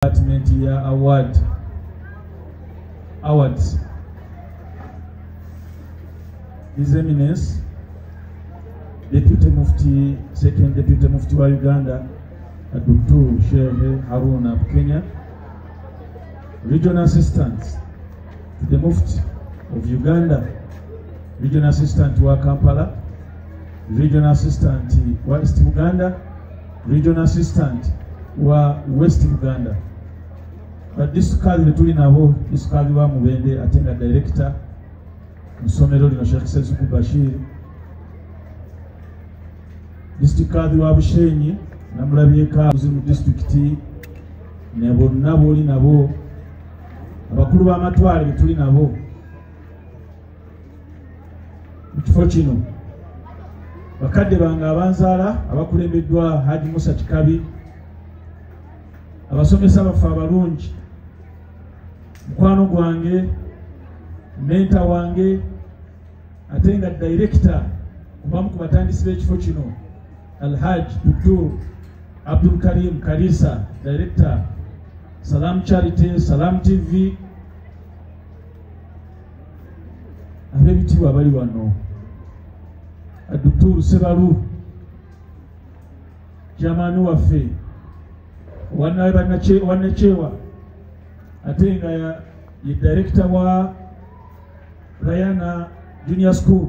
department ya award awards his eminence deputy mufti second deputy mufti wa uganda dr shehe haruna bukenya regional assistant to the mufti of uganda regional assistant wa kampala regional assistant wa east buganda regional assistant wa west buganda badisukali betuli nabo disukali wa mubende ate nga director musomero lino sheikh sezuku bashir district kadhi wa bushenyi namulabyeka uzi mu district ne bonna boli nabo abakulu b'amatwale betuli nabo mu kifo kino bakadde bange abanzaala abakulembeddwa haji musa kikabi abasomesa baffe abalungi mukwano gwange menta wange ate nga direkita kubamu ku batandisi b'ekifo kino alhaj dutur abdul karim kalisa direkita salam charity salam tv ab'ebitiibwa bali wano adukturu sebalu kyamaani waffe wanakyewa ate nga ye direkita wa rayana junior school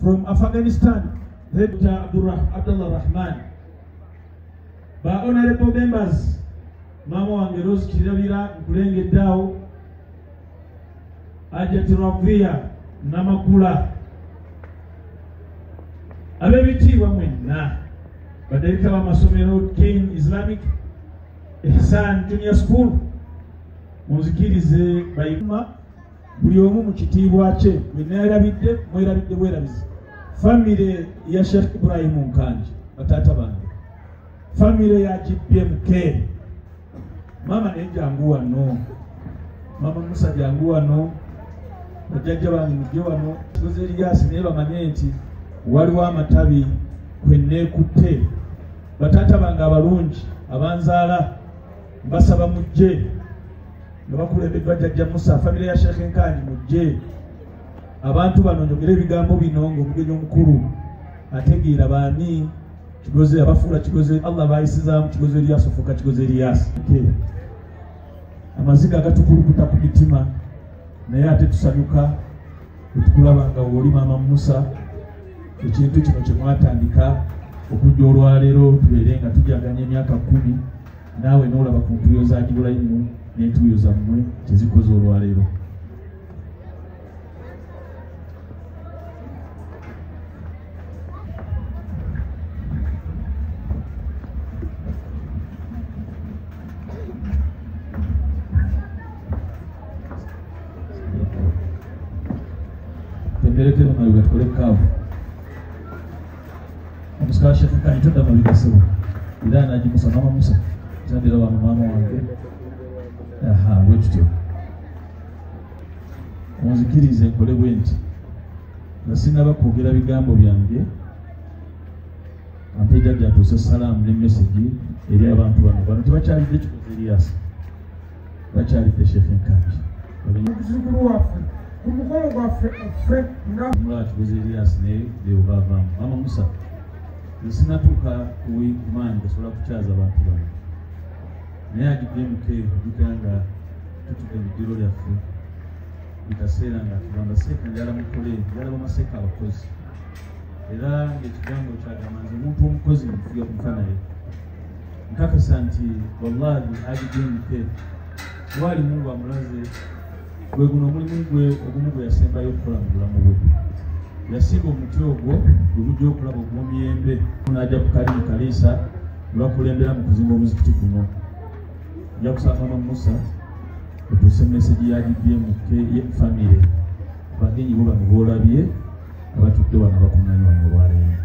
from afghanistan Dr. Abdullah Rahman ba honorable members maama wange Rose Kirabira nkulengedde awo Ajat Ravia Namakula ab'ebitiibwa mwenna badayirekita b'amasomero King Islamic Ihsan Junior School munzikirize bayima buli omu mu kitiibwa kye bwe neerabidde mwerabidde bwerabizi famire ya sheikh ibrahimu nkanji bataata bange famire ya gbmk maama naye jangu wano maama musa jangu wano bajjajja bange mujje wano kibuzo eriyasi naye bamanye nti waliwo amatabi kwe neekutte bataata bange abalungi abanzaala mbasaba mujje nga bakulembeddwa jjajja musa famire ya sheekh enkanji mujje abantu bano njogera ebigambo bino ngaomugenyi omukulu ategeera baani kigozi abafuula kigozi allah bayisizaamu kigozi eriyasi ofuuka kigozi eriyasi amaziga agatukulukuta ku mitima naye ate tusanyuka etukulaba nga woli maama musa ekintu kino kyemwatandika okujja olwaleero tubeere nga tujaganya emyaka kumi naawe n'olaba ku ntuuyo za gibulayimu n'entuuyo zammwe kyezikoze olwaleero Thank you. omusika shekukani todda mu bigasebo era anagimusa mama musa zambira wano maama wange aha bwekityo onzikirize nkole bwe nti nga sinaba kwogera bigambo byange ampe jajja atuuse salaamu ne mesegi eri abantu bano bano tebakyalidde kikuva eriyasi bakyalidde shefe nkambi muzukulu waffe ku mukolo gwaffe ffe nga mulatubuza elias naye beobavamu mama musa nsinatuuka ku wingman gasobola kukyaza abantu bano naye agidde muke ojukira nga tutude mu ddiro lyaffe mu kaseera nga tugamba seeka njala mukole njala bamaseeka abakozi era ngaekigambo kyagamba nze omuntu omukozi nfuya kufa naye nkakasa nti wallahi agidinike waali mungu amulaze gwe guno omulimu gwe ogumu gwe yasembayo okukola mu bulamu bwe yasimba omuti ogwo gwe gujja okulaba ogwomiyembe naja kukali mu kaliisa lwakulembera mu kuzimba omuzikiti guno nja kusanga ma musa otuuse mesegi ya gpm famire bagenyi bo bano boolabye abatudde wano bakuŋŋanywa mu olwaleero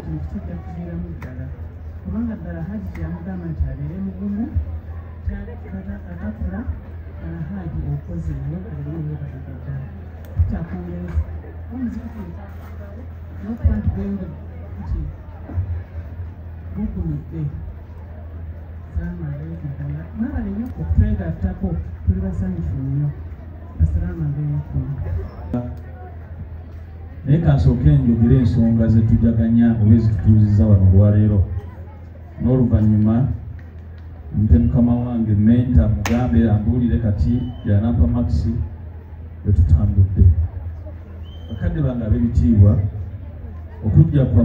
kino kitajja kubeeramu ddala kubanga ddala haji kyeyamugamba nti abeere mugumu atakula haji okoze nyobaeyobaige ddala kitakuweza omuzikuku nokuba nti bwenga nti bukumidde salamu aleikum mwebale nyo okutwegattako tuli basanyufu nnyo naye kansooke njogere ensonga zetujaganya oba ezitutuuziza wano olwaleero n'oluvannyuma nte mukama wange menta mugambe ambuulire kati yanampa makisi wetutambudde bakadde bange ab'ebitiibwa okujja kwa